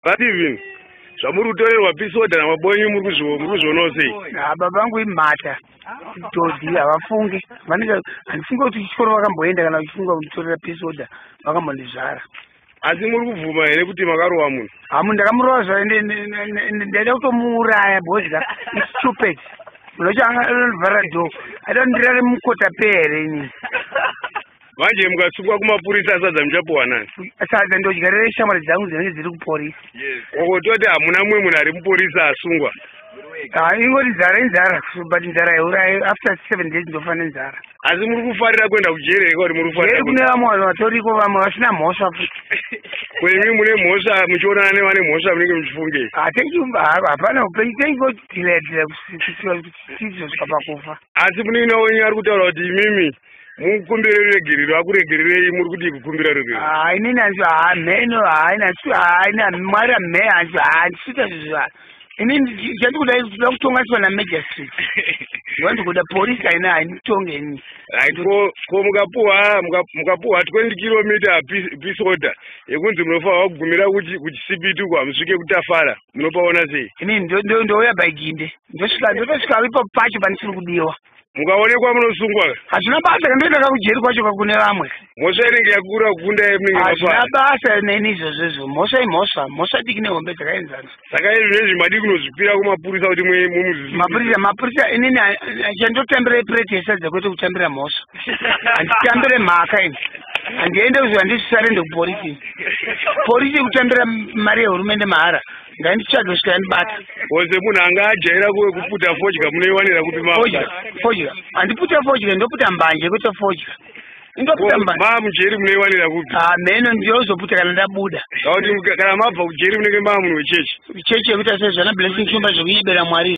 But even zvamuri kutorerwa pisoda namabonyu muri kuzvionawo sei baba vangu imhata todhi havafungi vanenge handifunga kuti chikoro vakamboenda kana vachifunga kunditorera pisoda vakambondizvara asi muri kubvuma here kuti makarova munhu hamu ndakamurova zva ndaida kutomuuraya because ka istupid unochanga anovhara do aida kundirare mukota pere inini manje mukasungwa kumapurisa asadza muchapuwa nani sadza ndodyarira shamwari dzangu dzinenge dziri kuporisa wakototi hamuna mumwe munhu ari muporisa asungwa ah, ingoti nzara inzara but nzara yaurayi after seven days ndofa nenzara asi muri kufarira kuenda kujeri here kwauri muri kufarira kune vamwe vanhu vatoriko vamwe vasina mhosva futi kwenyu mune mhosva muchionana nevane mhosva munenge muchifunge ah, hapana upenyu tengotilaidira kusiswa kuti tizosvika pakufa asi muninina wenyu ari kutaura kuti imimi mukumbire ruregerero akuregererei muri kudii kukumbira ruregerero haa ah, inini hanzi haa ah, mheno haa ah, nasi haa ina mwari amhe hanzi haa ndisita zvezvaa ini ndati kuda kuda kutonganiswa namagistrate ndiva ndikuda porisi aina hainitonge ini right ko ko mukapuwa mukapuwa twenty kilometer peace order yekunzi munofanirwa kugumira kuchisipiti uko hamusvike kutafara munopaona sei ini ndouya by ginde ndosvika ndotosvika ipapo pacho pandisiri kudiwa mukaonekwa munosungwa hazvina basa kandoenda kakujeri kwacho kakune vamwe mhosva inenge yakura kukunda hazvina basa neni izvozvo izvo mhosva imhosva mhosva diki nehombe dzakaenzana saka izvi nezvi madi kunozvipira kumapurisa kuti mumuzimapurisa mapurisa inini chandotambira ipureti yesadza kwete kutambira mhosva handitambire mhaka ini handiende kuziva ndisvisarende kuporisi porisi kutambira mari yehurumende mahara ngainditsvage kusvika yandibata oze munhu anga ajaira kuwe kuputa fodya munoiwanira kupi mafodya fodya handiputa fodya ndoputa mbanje kwete fodya mamujeri munoiwanira kupi ah, meno ndiozoputa kana ndabuda auti kana mabva kujeri munenge maa munhu wechechi chechi yekuita sezvana blessing shumba zvekunyebera mwari